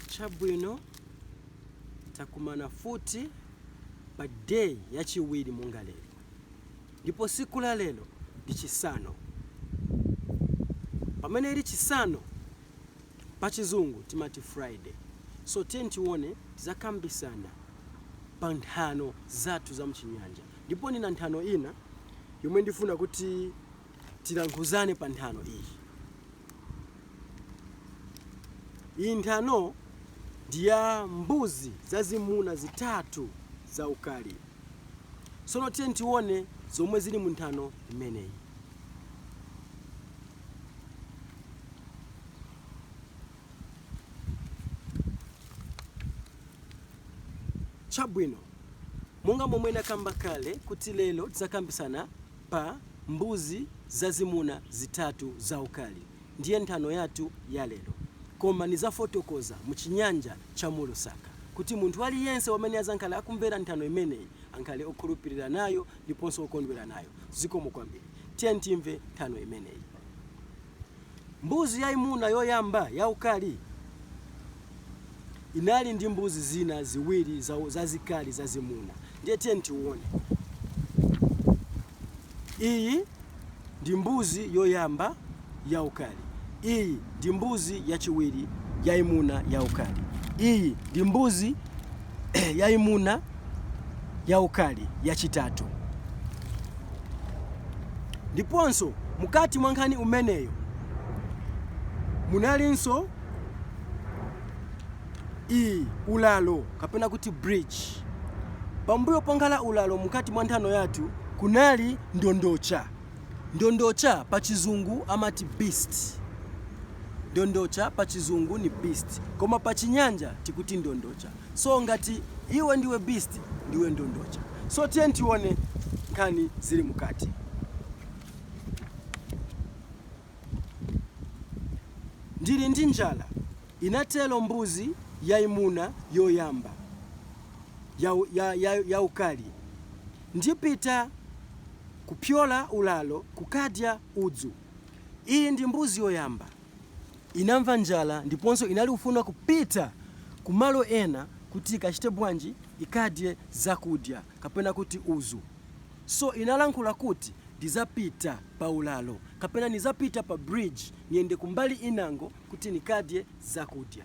Chabwino, takumana futi pa day ya chiwiri monga lero, ndipo siku la lero ndi chisano. Pamene ili chisano pa chizungu timati Friday, so tione tizakambisana pa nthano zathu za mchinyanja ndipo nina nthano ina yomwe ndifuna kuti. Tilankhuzane pa nthano iyi. Iyi nthano ndi ya mbuzi zazimuna zitatu zaukali. Sono tione zomwe zili mu nthano imeneyi. Chabwino, monga momwe nakamba kale kuti lero tizakambisana pa mbuzi zazimuna zitatu zaukali, ndiye nthano yathu ya lero. Koma nizafotokoza mu Chinyanja cha mu Lusaka kuti munthu aliyense wamene azankhala akumvera nthano imeneyi ankhale okhulupilila nayo ndiponso okondwela nayo. Zikomo kwambili. Tiyeni timve nthano imeneyi. Mbuzi yaimuna yoyamba yaukali inali ndi mbuzi zina ziwiri zazikali zazimuna. Ndiye tiyeni tione. Iyi ndi mbuzi yoyamba yaukali. Iyi ndi mbuzi yachiwiri yaimuna yaukali. Iyi ndi mbuzi. yaimuna yaukali yachitatu. Ndiponso, mukati mwa nkhani umeneyo munalinso iyi, ulalo, kapena kuti bridge. Pambuyo ponkhala ulalo mkati mwa nthano yathu kunali ndondocha. Ndondocha pa chizungu amati beast. Ndondocha pa chizungu ni beast koma pa chinyanja tikuti ndondocha. So ngati iwe ndiwe beast ndiwe ndondocha. So tiyeni tione nkhani zili mukati. Ndili ndi njala, inatelo mbuzi yaimuna yoyamba yaukali. Ndipita kupyola ulalo kukadya udzu. Iyi ndi mbuzi yoyamba. Inamva njala ndiponso inali ufuna kupita ku malo ena kuti ikachite bwanji, ikadye zakudya kapena kuti udzu. So inalankhula kuti ndizapita pa ulalo kapena nizapita pa bridge niyende kumbali inango kuti nikadye zakudya.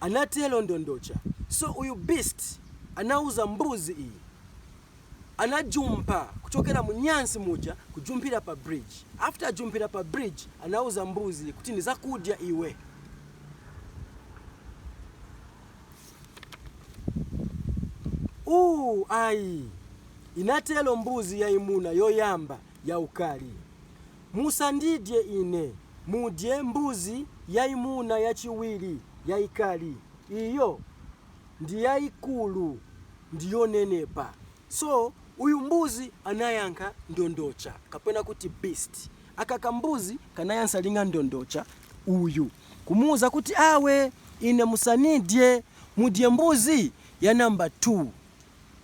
Anatero Ndondocha. So uyu beast anauza mbuzi iyi. Anajumpa kuchokera munyansi muja kujumpira pa bridge. After ajumpira pa bridge anauza mbuzi kuti nizakudya iwe. Ooh ayi. Inatero mbuzi yaimuna yoyamba yaukali. Musandidye ine, mudye mbuzi yaimuna yachiwiri yaikali. Iyo ndi yaikulu ndi yonenepa. So, uyu mbuzi anayankha ndondocha, kapena kuti beast. Aka kambuzi kanayansa linga ndondocha uyu, kumuuza kuti, Awe, ine musanidye, mudye mbuzi ya number two.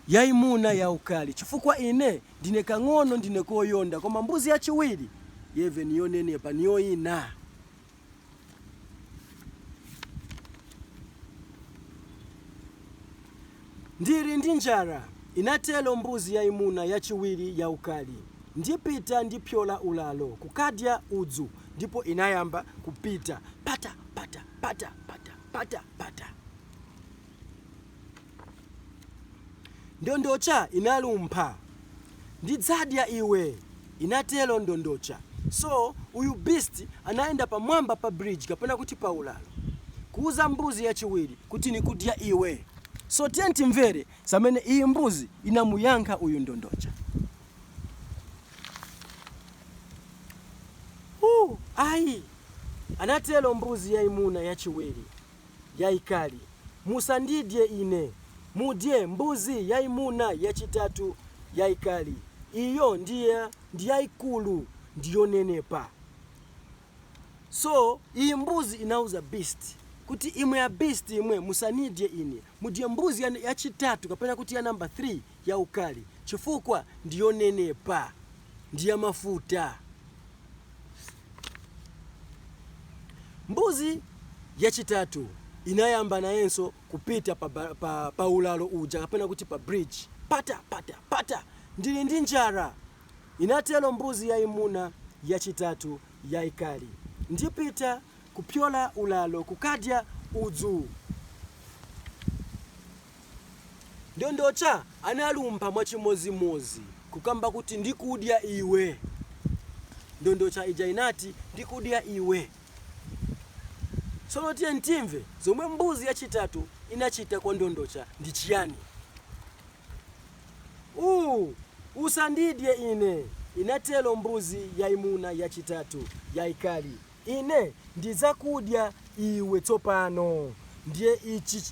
yaimuna yaukali, chifukwa ine ndine kang'ono, ndine koyonda, koma mbuzi yachiwiri yeve ni yonenepa, ni yoina. Ndiri ndi njara, inatelo mbuzi yaimuna yachiwiri yaukali. Ndipita ndipyola ulalo kukadya udzu, ndipo inayamba kupita, pata, pata, pata, pata, pata, pata. Ndondocha inalumpha. Ndidzadya iwe, inatero Ndondocha. So, uyu beast anayenda pamwamba pa bridge kapena kuti paulalo, kuuza mbuzi yachiwiri kuti nikudya iwe. So, tiye timvere zamene iyi mbuzi inamuyankha uyu Ndondocha. Ooh, ayi, anatero mbuzi yaimuna yachiwiri. yaikali. Musandidye ine. Mudye mbuzi yaimuna yachitatu yaikali. Iyo ndi yaikulu ndi yonenepa. So, iyi mbuzi inauza beast, kuti, Imwe a beast, imwe, musanidye ine. Mudye mbuzi ya, yachitatu, kapena kuti ya number 3 yaukali, chifukwa ndi yonenepa, ndi yamafuta. Mbuzi yachitatu inayamba nayenso kupita pa, pa, pa ulalo uja kapena kuti pa bridge. Pata, pata, pata, ndili ndi njara, inatelo mbuzi yayimuna yachitatu yayikali. Ndipita kupyola ulalo kukadya udzu. Ndondocha analumpha mwachimodzimodzi kukamba kuti, Ndikudya iwe! Ndondocha ija inati, Ndikudya iwe! Tsono tiyeni timve zomwe mbuzi yachitatu inachita kwa ndondocha ndi chiyani. Uuu! Usandidye ine! inatelo mbuzi yaimuna yachitatu, yaikali. Ine ndidzakudya iwe tsopano. Ndiye ichi,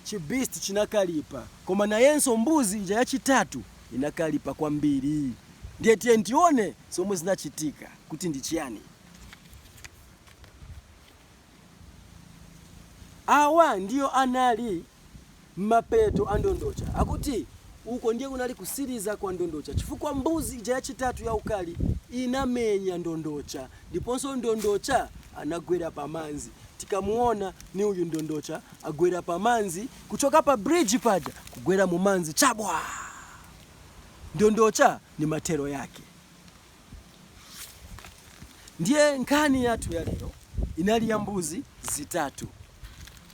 chi beast chinakalipa, koma nayenso mbuzi ija yachitatu inakalipa kwambiri. Ndiye tiyeni tione zomwe zinachitika, kuti ndi chiyani. Awa ndiyo anali mapeto a ndondocha, akuti uko ndiye kunali kusiliza kwa ndondocha, chifukwa mbuzi ija yachitatu yaukali inamenya ndondocha, ndiponso ndondocha anagwera pa manzi. Tikamuona ni uyu ndondocha agwera pa manzi, kuchoka pa bridge paja kugwera mu manzi chabwa! Ndondocha ni mathero yake. Ndiye nkhani yathu ya lero inali ya mbuzi zitatu.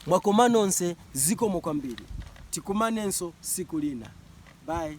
Mwakoma nonse zikomo kwambiri. Tikumanenso siku lina. Bye.